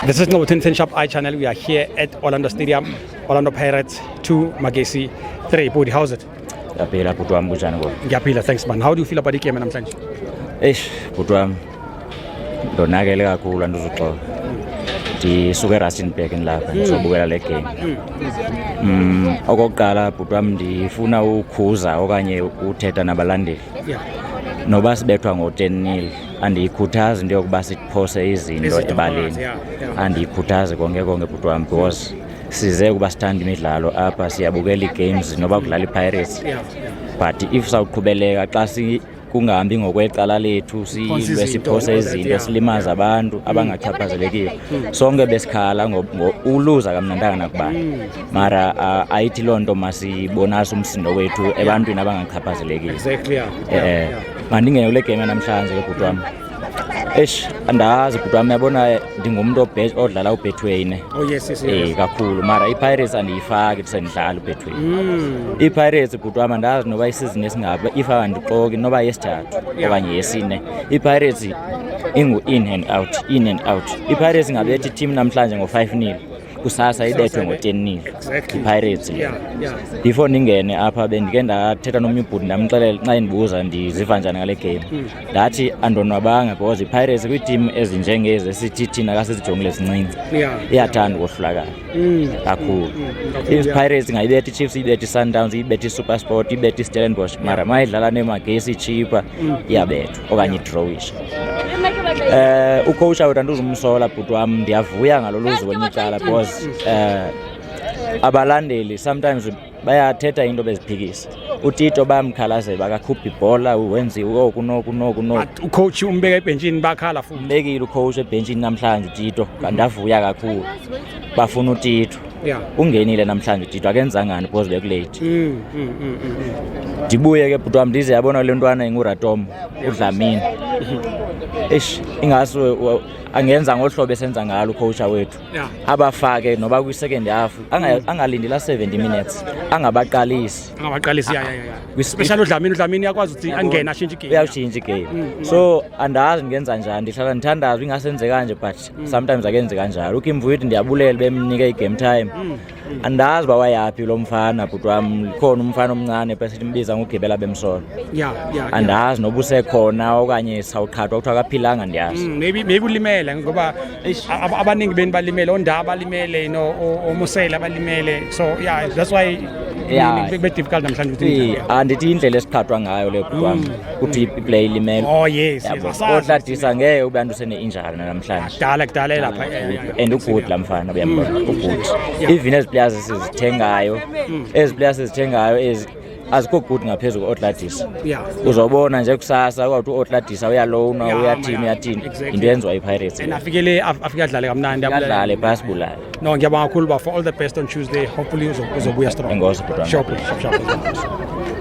This is Nobu Tintin Shop iChannel. We are here at Orlando Stadium, Orlando Pirates 2, Magesi 3. Budi, how's it? Yapila bhuti wam kunjani ngoku? Ngiyaphila, thanks man. How do you feel about igame namhlanje? Eish bhuti wam ndonakele kakhulu andizuxola. Ndisuke eRustenburg ndilapha ndizobukela le game. Mm, okokuqala bhuti wam ndifuna ukhuza okanye uthetha nabalandeli. noba sibethwa ngo-ten nil andiyikhuthazi into yokuba siphose izinto ebaleni andiyikhuthazi konke konke bhuti wam because size ukuba sithanda imidlalo apha siyabukela ii-games noba kudlala ipirates but if sawuqhubeleka xa kungahambi ngokwecala lethu silwe siphose izinto silimaza abantu abangachaphazelekile hmm. sonke besikhala uluza kamnantanga nakubani hmm. mara uh, ayithi loo nto masibonase umsindo wethu ebantwini abangachaphazelekile exactly, yeah. Eh, yeah, yeah. mandingene kule game yanamhlanje ke bhuti wam eish andazi bhuti wam yabona ndingumntu odlala ubetway ne oh, yes, yes, yes. Eh, kakhulu mara ipirates andiyifaki ndisendidlala ubetway mm. ipirates bhuti wam andazi noba isizini esingapha if andixoki noba yesithathu yeah. okanye yesine ipirates ingu-in and out in and out ipirates ingabethi itim namhlanje ngo-five nil kusasa ibethwe ngotenini ipirates le before ndingene apha bendike ndathetha nomnye ubhuti ndamxelela xa endibuza ndiziva njani ngale game hmm. ndathi andonwabanga because ipirates kwiitim ezinjengezi esithi thina kasizijongile sincinci iyathanda ukohlulakala hmm. kakhulu hmm. ipirates ingayibetha ichiefs ibetha isundowns ibetha isupersport ibetha istellenbosh mara mayidlala nemagesi ichipa iyabethwa okanye idrowisha um ukhowutsha wethu andizumsola bhuti wam ndiyavuya ngalo luzi kwenye icala because um abalandeli sometimes bayathetha into beziphikisa utito bayamkhalazela bakakhupha ibhola wenziwe oku noku noku noku ucoach umbeka ebhentshini bakhala futhi umbekile ucoach ebhentshini namhlanje utito kandavuya kakhulu bafuna utito yeah. ungenile namhlanje didwa akenzangani because bekulate mm, mm, mm, mm, mm. ndibuye ke bhuti wam ndize yabona le ntwana inguratom udlamini eish ingase angenza ngolu hlobo esenza ngalo ukhowutsha wethu yeah. abafake noba kwi-second half mm. angalindi la 70 minutes angabaqalisi angabaqalisi ya ya ya especially udlamini udlamini yakwazi ukuthi angene ashintshe igame uyatshintsha igame mm, mm. so andazi ngenza njani ndihlala ndithandaza ingasenzekanje but mm. sometimes akenzi kanjalo ukimvu uyithi ndiyabulele bemnike i-game time mm. mm. andazi uba wayaphi lo mfana bhuti wam likhona umfana omncane pesithi mbiza ngugibela bemsolo yeah, yeah, yeah. andazi noba usekhona okanye sawuqhathwa kuthiwa akaphilanga ndiyazi mm, maybe, maybe ulimele ngoba abaningi beni balimele ondaba balimele you know, omusele abalimele so yeah that's why yeah. bebe difficult namhlanje ukuthi andithi indlela esiqhathwa ngayo le bhuti wam mm. ukuthi iplay ilimele oh yes otladisa ngeke ube antu sene-injari namhlanje kudala kudala elapha and ugood la mfana uyambona mm. ugood even ezi players esizithengayo mm. ezi players esizithengayo ezi azikho good ngaphezulu kwe-otladisa uzobona nje kusasa kwawuthi u-otladisa uyalowna uyathini uyathini yinto yenziwa ipirates afikele afike adlale kamnandi adlale phasi bulayo No, ngiyabuya kakhulu ba for all the best on Tuesday. Hopefully uzobuya strong. Engozi bro. Sure, sure, sure.